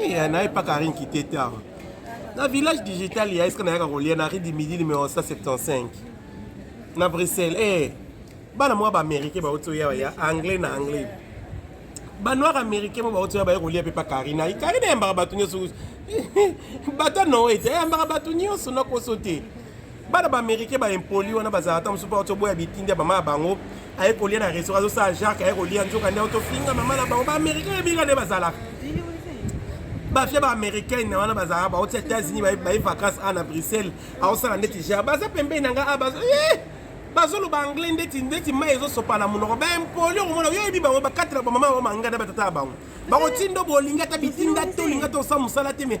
Eh, naye pa Karine Kiteta na village digital ya eske nayaka kolia na rue du midi numero 175 na Bruxelles eh bana mwa ba américain bauti oya ya anglais na anglais banoir américain mo bauti oya baye kolia mpe pa Karine ayi Karine ayambaka bato nyonso bato anoete ayambaka bato nyonso nakoso te bana ba américain ba impoli wana bazala ta mosusu baoto boya bitindi ya mama ya bango aye kolia na restaurant azosala jacques aye kolia nzoka nde otofinga mama na bango ba américain yebika nde bazalaka bafia ba américaine wana bazalaka baoti états-unis baye vacance a na bruxelles aosala ndeti ja baza pembeni na nga a bazo eh! bazoloba anglais ndeti ndeti mai ezosopa na monoko baimpoli okomona yo oyebi bango bakatela bamama bango manganda batata ya bango bakotindo bolingi ata bitinda tolinga tosa mosala te me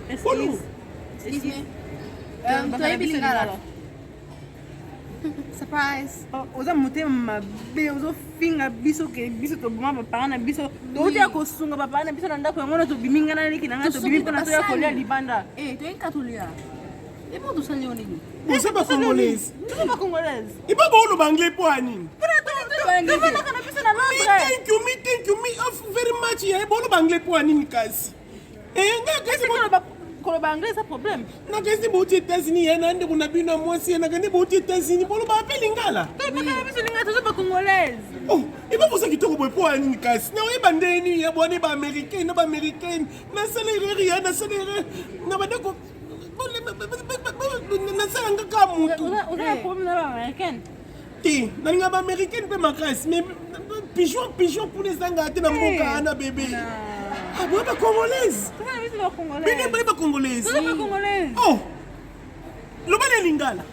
Excuse. Excuse me. Euh, um, toyebi lingala. surprise oh, oza motema mabe ozofinga biso ke biso toboma bapara na biso touti ya kosunga bapara na biso na ndako yango na tobimi ngai na leki na ngai tobimi mpona toya kolia libanda eh, toyika tolia ebo tosali yo nini oza bacongolaise toza bacongolaise ipo booloba anglais mpo ya nini tovanaka na biso na londres thank you me thank you me very much yaye booloba anglais mpo ya nini kasi Eh, koloba anglais eza problème nakesi bouti états-unis ye na ndeko na bino ya mwasi ye nakende bouti états-unis boloba ape lingala biso lingala toza bacongolaise oh, eba boza kitoko boye mpo ya nini kasi na oyeba nde nini ya bwana ba américaine na ba américaine nasala erreur ya nasala erreur na bandeko nasala nga ka motu te nalinga ba américaine mpe makasi mais pigeon pigeon kuna ezanga te na mboka eh, ana bebe aboya ba congolaise bino boye ba congolaise oh loba na lingala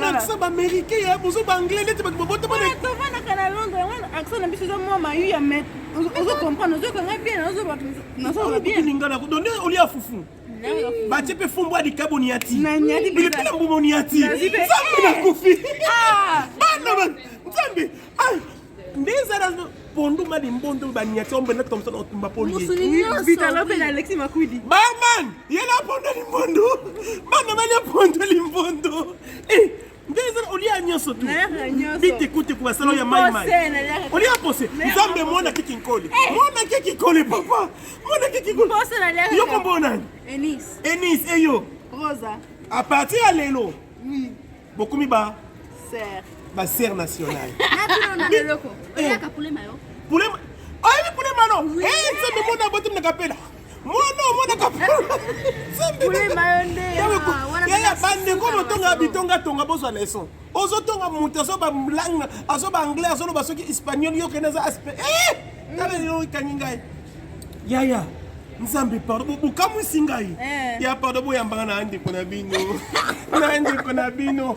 akisa baaméricain ya bozo baanglais neti bato babotabanaka na londres yango akisa na biso eza mwa mayu ya met ozo comprendre ozoyoka ngai bien nazoba bien lingala donde olia fufu batie mpe fumbwa likabo niati bilipila mbumo niati nzambe nakufi ah! bana nzambe ah! nde ezala ponduma limbondo baniati ombe na tomson otumba poliebarman yela pondo limbondo bana balia pondo limbondo eh! olia nyonso tu bitekuteko basalo ya maimai olia pose nzambe mwana kiki nkoli eh. mwana kiki nkoli papa mwana kiki nkoli yo kombo nani enis eyo a partir ya lelo bokomi ba basere nationale pulema no nzambe mwana botimnaka mpela mwana omonaka yaya bandeko botonga bitongatonga bozwa leson ozotonga moto azoba langue azoba anglais azoloba soki espagnol yo kende aza aspe eh! tala lelo ekangi ngai yaya nzambe pardon bokamwisi ngai eh. ya pardon boyambaka na ndeko na bino na ndeko na bino